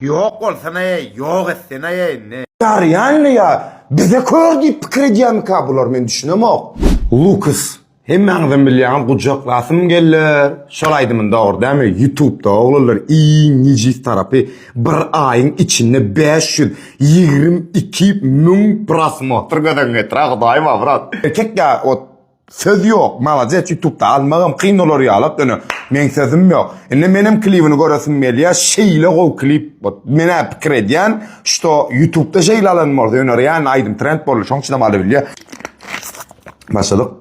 Ýok bolsana-eý, ýok etsene-eý indi. Garýanmy ýa bize kör diýip pikir edýärmika bular men düşünemok. Lukas hemmäňizem bilýäňiz gujaklasym geller şol aýdymyny dogry dämi ýutubda oglanlar iň nejis tarapy bir aýyň içinde bäş ýüz ýigrimi iki müň prosmotr gözüňe getirä hudaýyma brat erkek ýa ot Söz ýok maladec ýutubda almagam kyn bolar ýalak ine meň sözüm ýok ine menem klibini göresim gelýä şeýle gowy klip ot menä pikir edýän şto ýutubda şeýle alan bolsa ýöne realny aýdym trend boldy şoň üçinem alybilýä başadyk.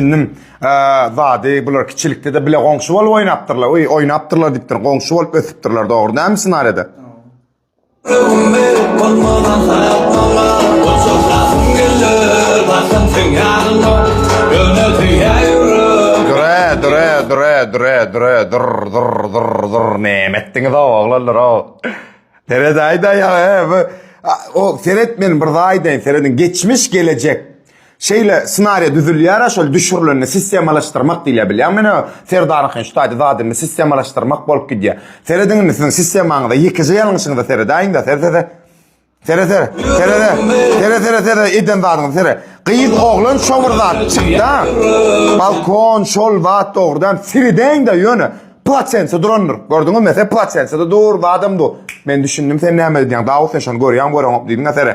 düşündim. Zady bular kiçilikde de bile goňşy bolup oýnapdyrlar. Oý, oýnapdyrlar diýipdir. Goňşy bolup ösüpdirler, dogry näme ssenariýada? Dure, dure, dure, dure, dure, dur, dur, dur, dur, ne etdiňiz o oglanlar o. Seret ayda ya, o seret men bir ayda seredin geçmiş gelecek. Şeýle ssenariýa düzülýär-ä şol düşürilende sistemalaşdyrmak diýilýär bilýäňmi ine Serdaryňky şu taýda zat indi sistemalaşdyrmak bolup gidýär. Serediň indi siziň sistemaňyza ýekeje ýalňyşyňyza seredäýiňdä sere sere. Sere sere. Sere sere. Sere sere sere eden zadyňyza sere. Gyz oglan şo bir zat çykda. Balkon şol zat dogrudan seredäýiňdä ýöne plaçensa durandyr. Gördüňizmi mesele plaçensada dur zadam du. Men düşündim sen näme öýdýäň Dawud sen şony görýäňmi göreňokmy diýdiňä sere.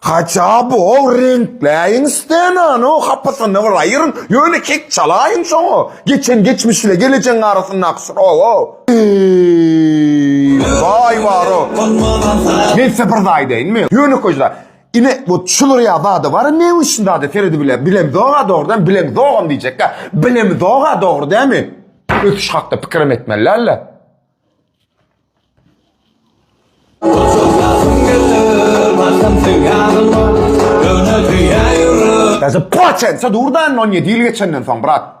Haça bu ol reňkläýiň stenany o hapasyny bir aýyryň ýöne kek çalaýyň şoňa geçen geçmiş ile gelejegiň arasyndaky şroga eý zaý bar o men size bir zaý deýin mi ýönekeý zaý ine bu çulyr ýa zada bar ne uçin zada seredi bile bilem zoga dogry dämi bilem zogam diýjekka bilem zoga dogry dämi ötüş hakda pikirim etmeli dällä. Täze poçen, so durdan 17 ýyl geçenden soň brat.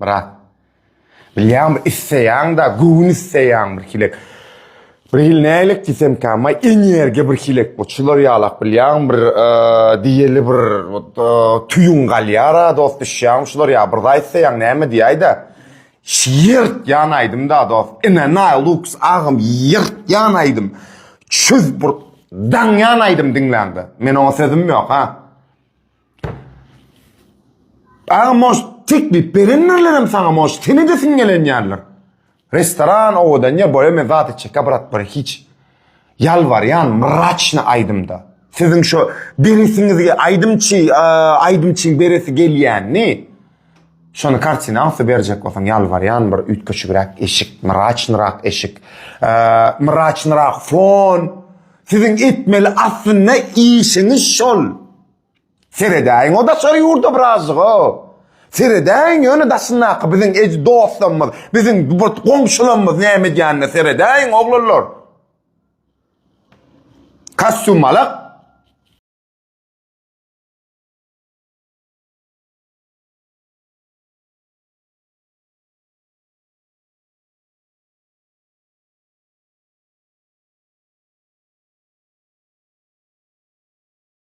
Myrat. Bilýäňmi, isleýäň-de, göwün isleýäň birhilek. Birhili nähilek diýsemkä, maý energiýa birhilek bu çylar ýalak bilýäňmi, bir diýeli bir tüýüň galýar-a, dost düşýäňmi şular ýa bir zat isleýäň näme diýäý-de. Şyýrt ýan aýdym da dos. Ine naý lux agam ýyrt ýan aýdym. Çüz bir daň ýan aýdym diňläňde. Men oňa sözüm ýok ha. Agam moş teklip berenlerlerem saňa moş seni de siňelenýärler. Restoran owadan ýa boýa me zat içek brat bir hiç. Ýalbarýan mraçny aýdymda siziň şo beresiňizi aýdymçy aýdymçyň beresi gelýänini şony kartina asy berjek bolsaň ýalbarýan bir üýtgeşigräk eşik mraçnyrak eşik mraçnyrak fon siziň etmeli aslynda işiňiz şol. Seredäýiň o daşary ýurda birazjyga. Seredäýiň ýöne daşyndaky biziň ej dostlarymyz, biziň bir goňşularymyz näme edýänine seredäýiň oglanlar. Kastýumalak.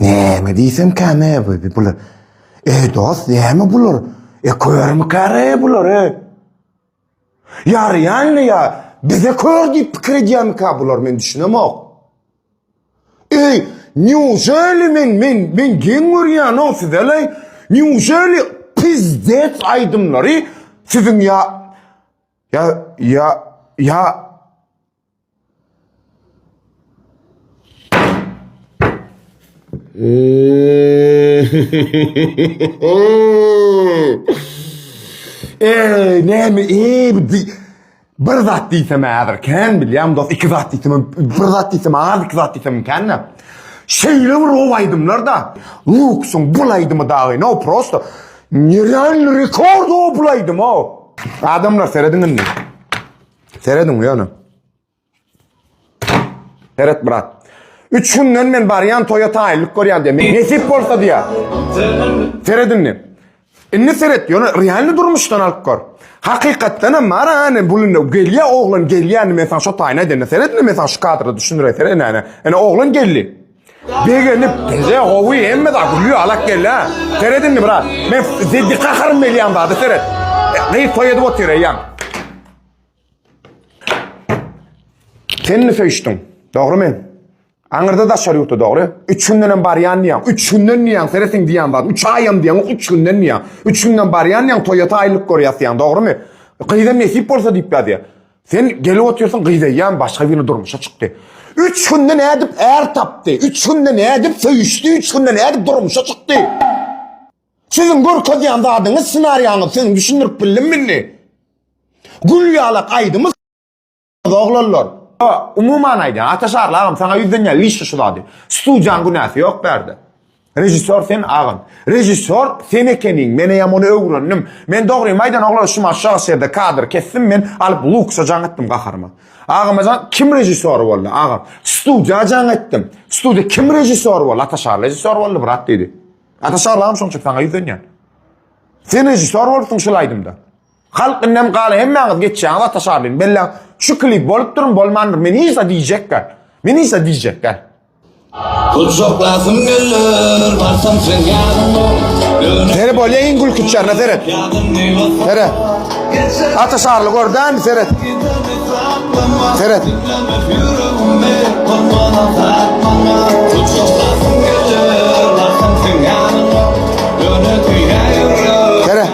Näme diýsem käme bu bular. Ey dost, näme bular? E körmi käre bular? Ýaraýanmy ýa bize kör diýip pikir edýärmikä bular men düşünemok. Eý, neujeli men men men geň görýänow sizele neujeli pizdets aýdymlary siziň ýa ýa ýa ýa Eee näme eee bu di- bir zat diýsem häzir kän bilýän dost iki zat diýsem hem- bir zat diýsem az iki zat diýsem kän da. Şeýle bir gowy aýdymlar da. Luksuň bul aýdymy dagy no prosto nerealny rekord o bul aýdym o. Adamlar serediň indi. Serediň ýöne. Seret brat. Üç günden men barýan toýa taýynlyk görýän diýär. Nesip bolsa diýär. Seredin diýär. Indi seret ýöne realny durmuşdan alyp gör. Hakykatdan hem bar ane bulunda gelýä oglan gelýäni men sana şo taýyna edende seredin men sana şu kadra düşündireýin seret ene ene. Ene oglan geldi. Begenip bize gowy hemme da gülü alak gelle. Seredin mi brat? Men zeddi kaharym belyan da seret. Gyz toy edip otyr eyyam. Sen mi söyüştün? Doğru men. Aňyrda daşary ýurtda dogry. 3 günden hem barýan diýen. 3 günden diýen seretin diýen zat. 3 aýam diýen, 3 günden diýen. 3 günden barýan diýen toýata aýlyk görýär diýen, dogrymy? Gyza nesip bolsa diýip ýa diýen. Sen gelip otursun gyz eyyam başka birini durmuşa çıktı. Üç günde ne edip er taptı. Üç günde ne edip söyüştü. Üç günde ne edip durmuşa çıktı. Sizin görkezýän zadyňyz senariýaňyz siziň düşündirip bildim indi. Gül ýalak aýdymyz oglanlar. Umuman aýdýan, Ataşarly agam saňa ýüzlenýär, liş şu zady. Studiýaň günäsi ýok bärde. Režissýor sen agam. Režissýor sen ekeniň, men eýem ony öwrendim. Men dogrymy aýdan oglan şu maşşaga şerde kadr kesdim men alyp luksa jaň etdim gaharyma. Agam ajan kim režissýor boldy agam. Studiýa jaň etdim. Studiýa kim režissýor boldy? Ataşar režissýor boldy brat diýdi. Ataşar agam şonça saňa ýüzlenýän. Sen režissýor bolupsyň şol aýdymda. Halk indem galy hemmäňiz geçýäňiz Ataşarlyny belläň. Şu klip bolupdyrmy bolmandyr men hiç diýjekler. Men hiç diýjekler. Gujaklasym geller, barsam sen ýanyma. Seni bolýa iň gülküç ýerine seret. Seret. Ata şarly gördämi seret. Seret. Seret.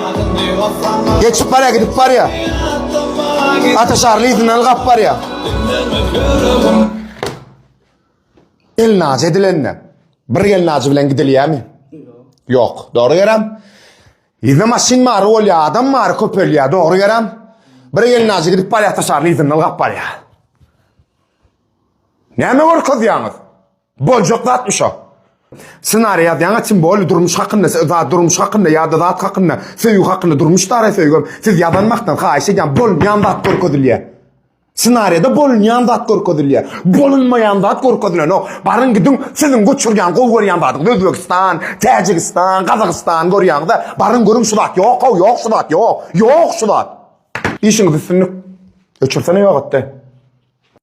Geçip barya gidip barya. Ata şarly izinden gap barya. Elnajy edilende bir elnajy bilen gidilýärmi? Ýok. Dogry geräm. Ýüzde maşyn bar, bolýar, adam bar, köpelýär. Dogry geräm. Bir elnajy gidip barýar, taşarly ýüzünde ylgap barýar. Näme görkezýäňiz? Boljak zatmy şo? Ssenariý ýazýaňa kim boldy durmuş hakynda, zat durmuş hakynda ýa-da zat hakynda, söýgi hakynda durmuş dara söýgüm. Siz ýazan wagtdan haýyş edýän bolmaýan zat görkezilýär. Senariýada bolunýan zat görkezilýär. Bolunmaýan zat görkezilenok. Baryň gidiň, siziň göçürýän, gowy görýän zadyňyz Özbegistan, Täjigistan, Gazagystan görýäňiz-ä. Baryň görüň şu zat ýok-ow, ýok şu zat, ýok, ýok şu zat. Işiňiz üstünlik. Öçürsene ýogatdy.